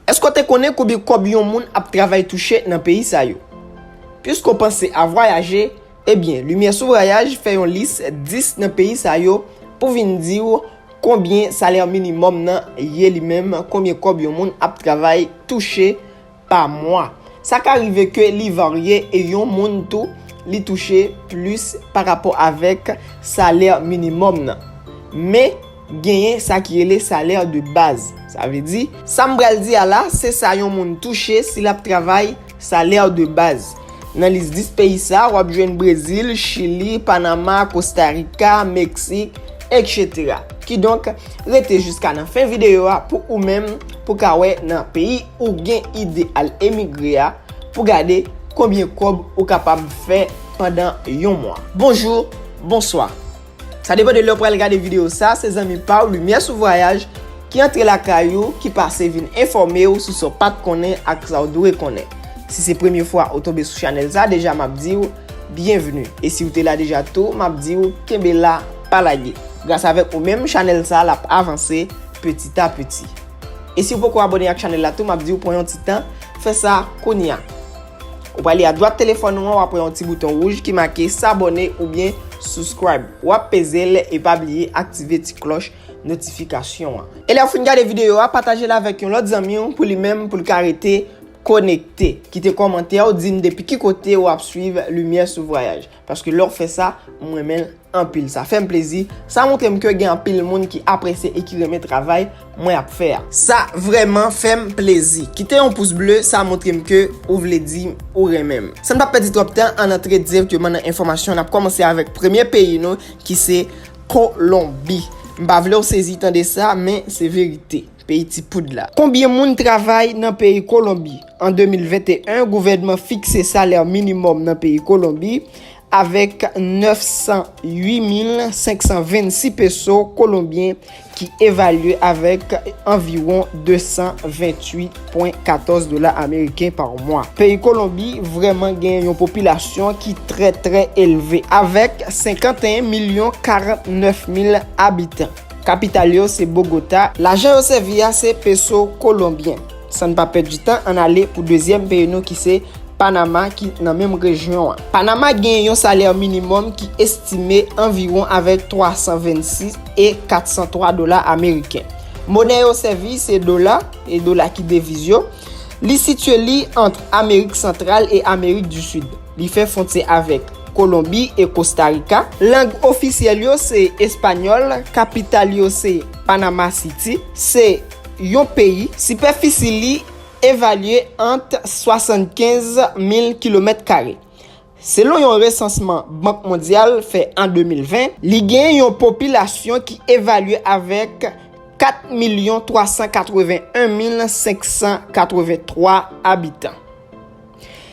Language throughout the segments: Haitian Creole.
Èske w te konnen konbyen kòb yon moun ap travay touche nan peyi sa yo? Piske w panse a vwayaje, ebyen Limyè sou Vwayaj fè yon lis 10 nan peyi sa yo pou vin di w konbyen salè minimòm nan ye li menm, konbyen kòb yon moun ap travay touche pa mwa. Sa ka rive ke li varye e yon moun tou li touche plis parapò avèk salè minimòm nan. Men. Genyen sa ki rele salè de baz. Sa vle di. Sa m pral di a la, se sa yon moun touche si l ap travay, salè de baz. Nan lis 10 peyi sa, w ap jwenn Brezil, Chili, Panama, Kosta Rika, Meksik, etc. Kidonk, rete jiska nan fen videyo a pou ou menm pou ka wè nan peyi ou gen ide al emigre a, pou gade konbyen kòb ou kapab fè pandan yon mwa. Bonjou, bonswa. Sa depan de lè ou pral gade videyo sa, se zanmi pa w Limyè sou Vwayaj ki antre lakay ou, ki pase vin enfòme w sou sa w pa t konnen ak sa w dwe konnen. Si se premye fwa ou tonbe sou chanèl sa deja m ap di w byenvni e si w te la deja tou m ap di w kenbe la pa lage. Gras avèk ou menm chanèl sa l ap avanse petit a petit. E si w poko abòne ak chanèl la tou m ap di w pran yon ti tan fè sa kounya. Ou prale adwat telefòn ou an wap wè yon ti bouton wouj ki make sabone oubyen subscribe. Wap peze l e pa bliye aktive ti klòch notifikasyon an. E lèw fin gade videyo a pataje l avèk yon lòt zanmi w pou li menm pou l ka rete konekte. Kite kòmantè w dim depi ki kote wap swiv Limyè sou Vwayaj. Paske lè w fè sa, m renmen l anpil. Sa fè m plezi. Sa montre m ke gen anpil moun ki apresye e ki renmen travay mwen ap fè a. Sa vrèman fè m plezi. Kite yon pous ble, sa montre m ke ou vle di m ou renmen m. San n pa pèdi twòp tan, ann antre direkteman nan enfòmasyon. N ap kòmanse avèk premye peyi nou ki se Kolonbi. M pa vle w sezi tande sa, men se verite. Peyi ti poud la. Konbyen moun travay nan peyi Kolonbi? An 2021, gouvènman fikse salè minimòm nan peyi Kolonbi avèk 908,526 peso kolonbyen ki evalye avèk anviwon 228,14 dola ameriken pa mwa. Peyi Kolonbi vrèman gen yon popilasyon ki trè trè elve avèk 51 milyon 49 mil abitan. Kapital yo se Bogota. Lajan yo sèvi a se peso kolonbyen. San n pa pèdi tan, ann ale pou dezyèm peyi nou ki se Panama ki nan menm rejyon an. Panama gen yon salè minimòm ki estime anviwon avèk 326 e 403 dola ameriken. Monè yo sèvi se dola, e dola ki deviz yo. Li sitye li ant Amerik Santral e Amerik di Sid. Li fè fwontyè avèk Kolonbi e Kosta Rika. Lang ofisyèl yo se espanyòl. Kapital yo se Panama City. Se yon peyi. Sipèfisi li evalye ant 75 mil kilomèt kare. Selon yon resansman Bank Mondyal fè an 2020, li gen yon popilasyon ki evalye avèk 4 milyon 381 mil 583 abitan.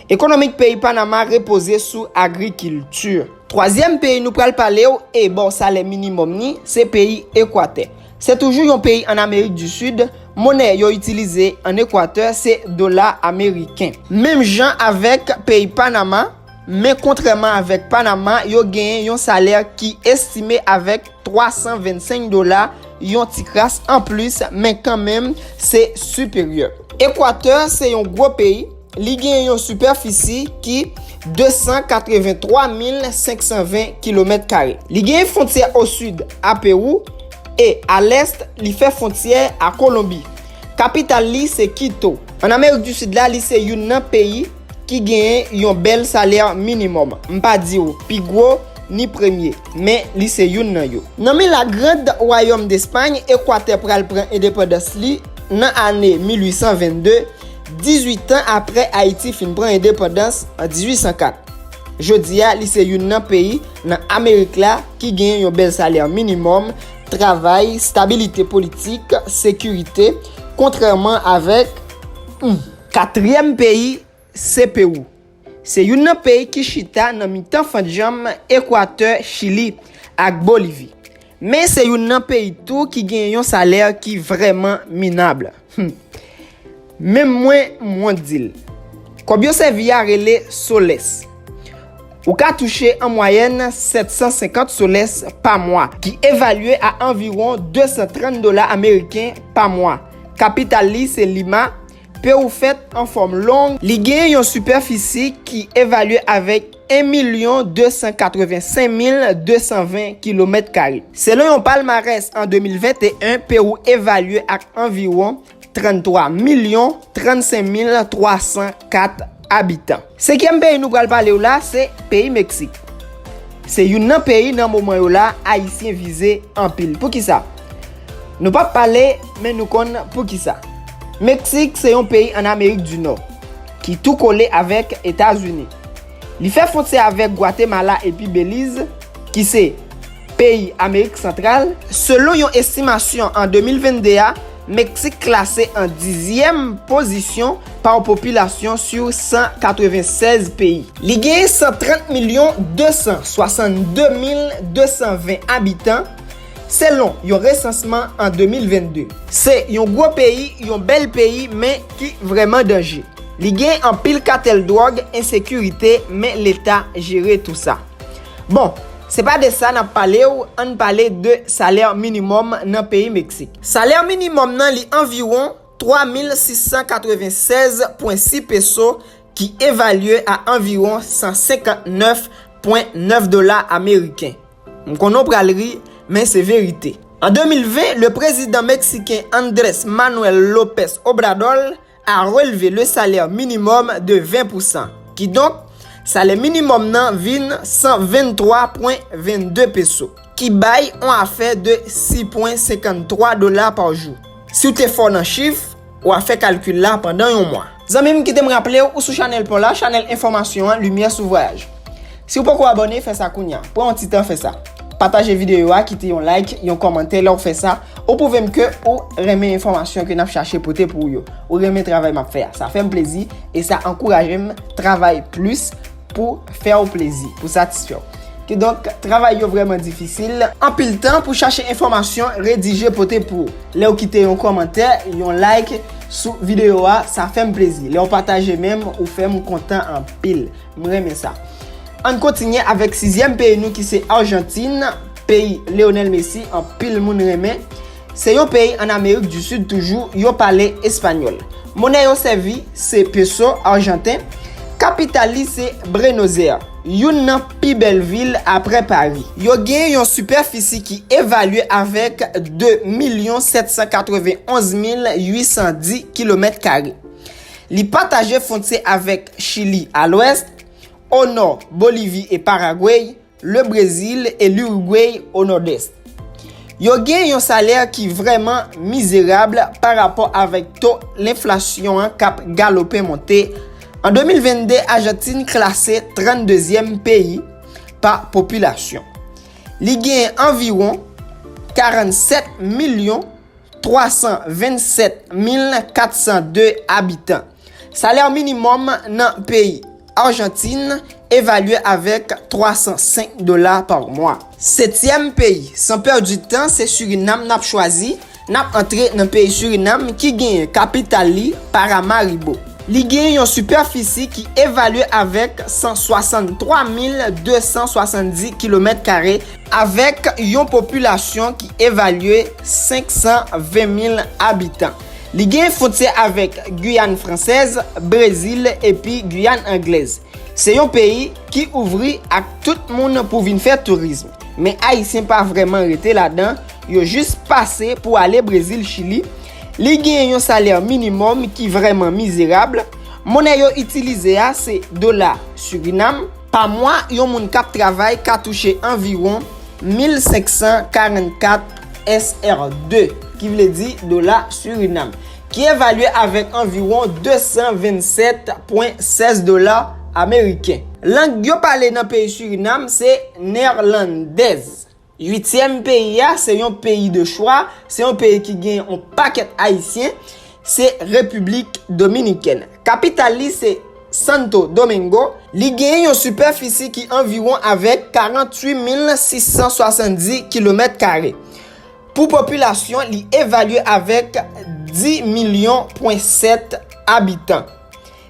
Ekonomik peyi Panama repoze sou agrikilti. Twazyèm peyi nou pral pale w e ba w salè minimòm ni, se peyi Ekwatè. Se toujou yon peyi an Amerik di Sid, monè yo itilize an Ekwatè se dola ameriken. Menm jan avèk peyi Panama, Men kontrèman avèk Panama, yo genyen yon salè ki estime avèk 325 dola, yon ti kras anplis, men kanmenm se siperyè. Ekwatè se yon gwo peyi, li genyen yon sipèfisi ki 283520 kilomèt kare. Li genyen fontyè o sid a Pewou e a lès li fè fontyè a Kolonbi. Kapital li se Kito. An Amerik di Sid la, li se youn nan peyi. ki genyen yon bèl salè minimòm, m pa di w pi gwo, ni premye, men li se youn nan yo. Nan men La Grand Wayòm Despay, Ekwatè pral pran endepandans li nan ane 1822, 18 tan aprè Ayiti fin pran endepandans an 1804. Jodi a, li se youn nan peyi nan Amerik la ki genyen yon bèl salè minimòm, travay, stabilite politik, sekirite, kontrèman avèk. Katriyèm peyi se Pewou. Se youn nan peyi ki chita nan mitan fant djanm Ekwatè Chili ak Bolivi. Men se youn nan peyi tou ki gen yon salè ki vrèman minab. Hum. Menm mwen, m wont di l. Kòb yo sèvi a rele soles. Ou ka touche an mwayèn 750 soles pa mwa, ki evalye a anviwon 230 dola ameriken pa mwa. Kapital li se Lima. Pewou fèt an fòm long. Li gen yon sipèfisi ki evalye avèk 1 milyon 285 mil 220 kilomèt kare. Selon yon palmarès an 2021, Pewou evalye ak anviwon. 33 milyon 35 mil 304 abitan. Senkyèm peyi nou pral pale w la se peyi Meksik. Se youn nan peyi nan moman yo la Ayisyen vize anpil. Poukisa? Nou pa p pale men nou konn poukisa. Meksik se yon peyi an Amerik di Nò ki tou kole avèk Etazini. Li fè fwontyè avèk Gwatemala epi Beliz ki se peyi Amerik Santral. Selon yon estimasyon an 2022 a, Meksik klase an dizyèm pozisyon pa popilasyon sou 196 peyi. Li gen 130 milyon 262 mil 220 abitan, selon yon resansman an 2022. Se yon gwo peyi, yon bèl peyi, men ki vrèman danje. Li gen anpil katèl dwòg, ensekirite, men leta jere tou sa. Bon, se pa de sa n ap pale w, an n pale de salè minimòm nan peyi Meksik. Salè minimòm nan li anviwon 3,696,6 peso ki evalye a anviwon 159,9 dola ameriken. M konnen w pral ri, men se verite. An 2020, le prezidan meksiken Andres Manuel Lopez Obrador, a relve le salaire minimum de 20 pou san. Kidonk, salè minimòm nan vin 123.22 peso, ki bay on afè de 6.53 dola pa jou. Si w te fò nan chif, w a fè kalkil la pandan yon mwa. Zanmi m, kite m raple w, ou sou chanèl pa w la, chanèl enfòmasyon an, limyè sou vwayaj. Si ou poko abòne fè sa kounya, pran yon ti tan fè sa. Pataje videyo a, kite yon like, yon kòmantè lè ou fè sa, ou pwouve m ke ou renmen enfòmasyon ke nap chache pote pou ou yo. Ou renmen travay map fè a. Sa fè m plezi e sa ankouraje m travay plis pou fè ou plezi, pou satisfè ou. Kidonk, travay yo vrèman difisil. Anpil tan pou chache enfòmasyon redije pote pou ou. Lè ou kite yon kòmantè, yon like sou videyo a, sa fè m plezi. Lè ou pataje menm, ou fè m kontan anpil. M renmen sa. Ann kontinye avèk sizyèm peyi nou ki se Arjantin, peyi Leonel Messi anpil moun renmen. Se yon peyi ann Amerik di Sid toujou, yo pale espanyòl. Monè yo sèvi se peso arjanten. Kapital li se Brenozè, youn nan pi bèl vil aprè Pari. Yo gen yon sipèfisi ki evalye avèk 2 milyon 791 mil 810 kilomèt kare. Li pataje fwontyè avèk Chili a lwès, o nò Bolivi e Paragwey, le Brezil e l'Uruguay o nòdès. Yo gen yon salè ki vrèman mizerab pa rapò avèk to lenflasyon an k ap galope monte, an 2022 Ajantin klase 32 zyèm peyi pa popilasyon. Li gen anviwon 47 milyon 327402 abitan. Salè minimòm nan peyi Arjantin evalye avèk 305 dola pa mwa. Setyèm peyi, san pèdi tan se Surinam nap chwazi, nap antre nan peyi Surinam ki genyen kapital li Paramaribo. Li genyen yon sipèfisi ki evalye avèk 163270 kilomèt kare. Avèk yon popilasyon ki evalye 520 mil abitan, li gen fontyè avèk Guyane Fransèz, Brezil epi Guyane Anglèz. Se yon peyi ki ouvri ak tout moun pou vin fè tourism, men Ayisyen pa vrèman rete ladan, yo jis pase pou ale Brezil, Chili. Li gen yon salè minimòm ki vrèman mizerab. Monè yo itilize a se dola Surinam. Pa mwa, yon moun k ap travay ka touche anviwon 1,544 SR2, ki vle di dola Surinam, ki evalye avèk anviwon 227,16 dola ameriken. Lang yo pale nan peyi Surinam se Neerlandèz. Uityèm peyi a, se yon peyi de chwa, se yon peyi ki gen yon pakèt Ayisyen, se Repiblik Dominikèn. Kapital li se Santo Domingo. Li genyen yon sipèfisi ki anviwon avèk 48670 kilomèt kare. Pou popilasyon, li evalye avèk 10 milyon pwen 7 abitan.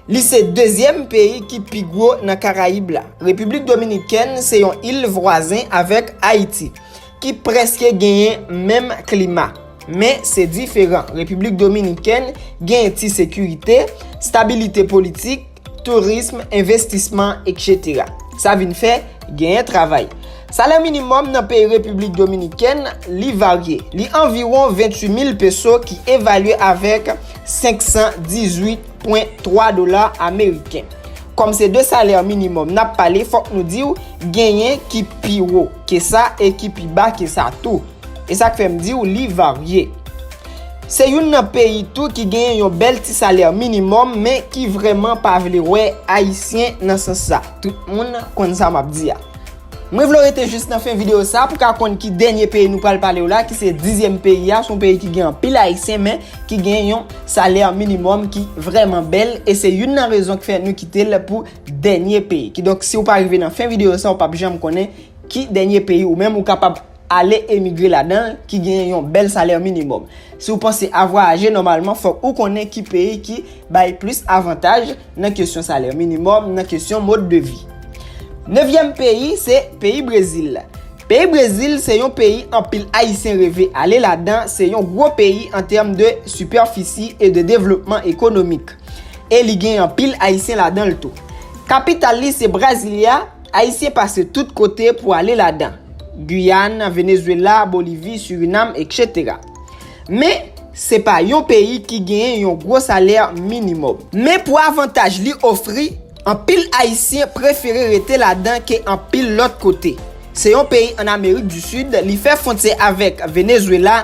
Li se dezyèm peyi ki pi gwo nan Karayib la. Repiblik Dominikèn se yon il vwazen avèk Ayiti, ki prèske genyen menm klima. Men, se diferan. Repiblik Dominikèn genyen ti sekirite, stabilite politik, tourism, envestisman, etc. Sa vin fè, genyen travay. Salè minimòm nan peyi Repiblik Dominikèn, li varye. Li anviwon 28 mil peso ki evalye avèk 518. pwen 3 dola ameriken. Kòm se de salè minimòm n ap pale fòk nou di w genyen ki pi wo ke sa e ki pi ba ke sa tou. E sa k fè m di w li varye. Se youn nan peyi tou ki genyen yon bèl ti salè minimòm men ki vrèman pa vle wè ayisyen nan sans sa. Tout moun konn sa m ap di a. Mwen vle w rete jis nan fen videyo sa pou ka konn ki dènye peyi nou pral pale w la ki se dizyèm peyi a, son peyi ki gen anpil ayisyen men ki gen yon salè minimòm ki vrèman bèl e se youn nan rezon k fè nou kite l pou dènye peyi. Kidonk si w pa rive nan fen videyo sa w pap janm konnen ki dènye peyi ou menm ou kapab ale emigre ladanl ki genyen yon bèl salè minimòm. Si w panse a vwayaje nòmalman fòk ou konnen ki peyi ki bay plis avantaj nan kesyon salè minimòm, nan kesyon mode de vie. Nevyèm peyi se peyi Brezil. Peyi Brezil se yon peyi anpil ayisyen reve ale ladan, se yon gwo peyi an tèm de sipèfisi e de devlopman ekonomik. E li gen anpil ayisyen ladanl tou. Kapital li se Brasilia. Ayisyen pase tout kote pou ale ladan, Guyane, Venezuela, Bolivie, Suriname, etc. Men, se pa yon peyi ki genyen yon gwo salè minimòm. Men pou avantaj li ofri, anpil Ayisyen prefere rete ladan ke anpil lòt kote. Se yon peyi an Amerik di Sid, li fè fwontyè avèk Venezuela,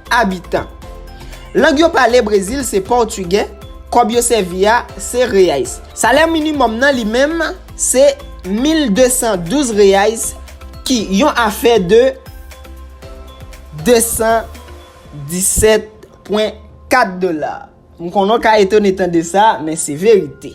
abitan. Lang yo pale Brezil se pòtigè, kòb yo sèvi a se reais. Salè minimòm nan li menm se 1212 reais ki yon afè de 217,4 dola. M konnen w ka etone tande sa, men se verite.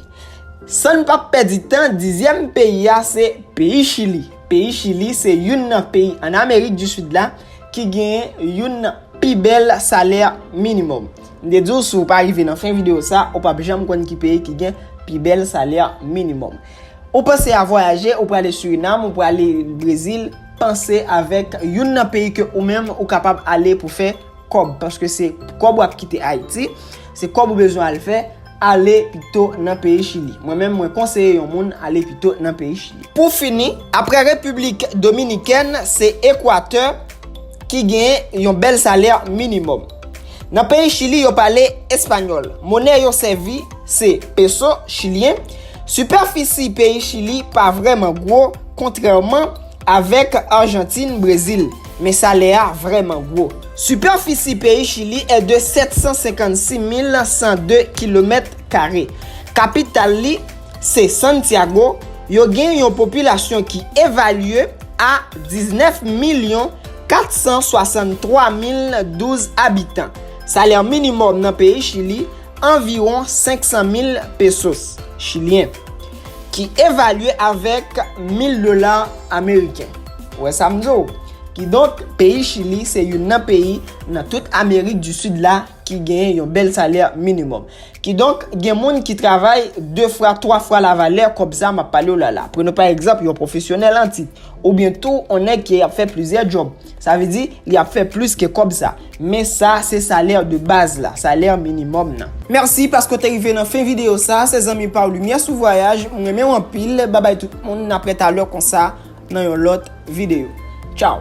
San n pap pèdi tan, dizyèm peyi a se peyi Chili. Peyi Chili se youn nan peyi an Amerik di Sid la ki genyen youn nan pi bèl salè minimòm. M te di w si w pa rive nan fen videyo sa, ou pap janm konn ki peyi ki gen pi bèl salè minimòm. Ou panse a vwayaje, ou prale Surinam, ou prale Brezil, panse avèk youn nan peyi ke ou menm ou kapab ale pou fè. kòb paske se kòb wap kite Ayiti, se kòb ou bezwen al fè, ale pito nan peyi Chili. Mwen menm mwen konseye yon moun ale pito nan peyi Chili. Pou fini, aprè Repiblik Dominikèn, se Ekwatè ki gen yon bèl salè minimòm. Nan peyi Chili yo pale espanyòl. Monè yo sèvi se peso chilyen. Sipèfisi peyi Chili pa vrèman gwo kontrèman. Avèk Arjantin, Brezil. Men salè a vrèman gwo. Sipèfisi peyi Chili è de 756,102 kilomèt kare. Kapital li se Santiago. Yo gen yon popilasyon ki evalye a 19 milyon 463 mil 12 abitan. Salè minimòm nan peyi Chili anviwon 500 mil pesos chilyen. ki evalye avèk 1000 dola ameriken. Ou wè sa m di w? Kidonk, peyi Chili se youn nan peyi nan tout Amerik di Sid la ki genyen yon bèl salè minimòm. Kidonk, gen moun ki travay 2 fwa, 3 fwa lavalè kòb sa m ap pale w la la. Prenn pa egzanp yon pwofesyonèl an tit, oubyen tou on nèg ki ap fè plizyè djòb. Sa vle di, li ap fè plis ke kòb sa. Men sa se salaire de base la, salaire minimum nan. Merci paske w te rive nan fen video sa, se zanmiw pa w Lumière sous voyage, m renmen w anpil, babay tout moun, na prè talè konsa nan yon lòt video. Tchau!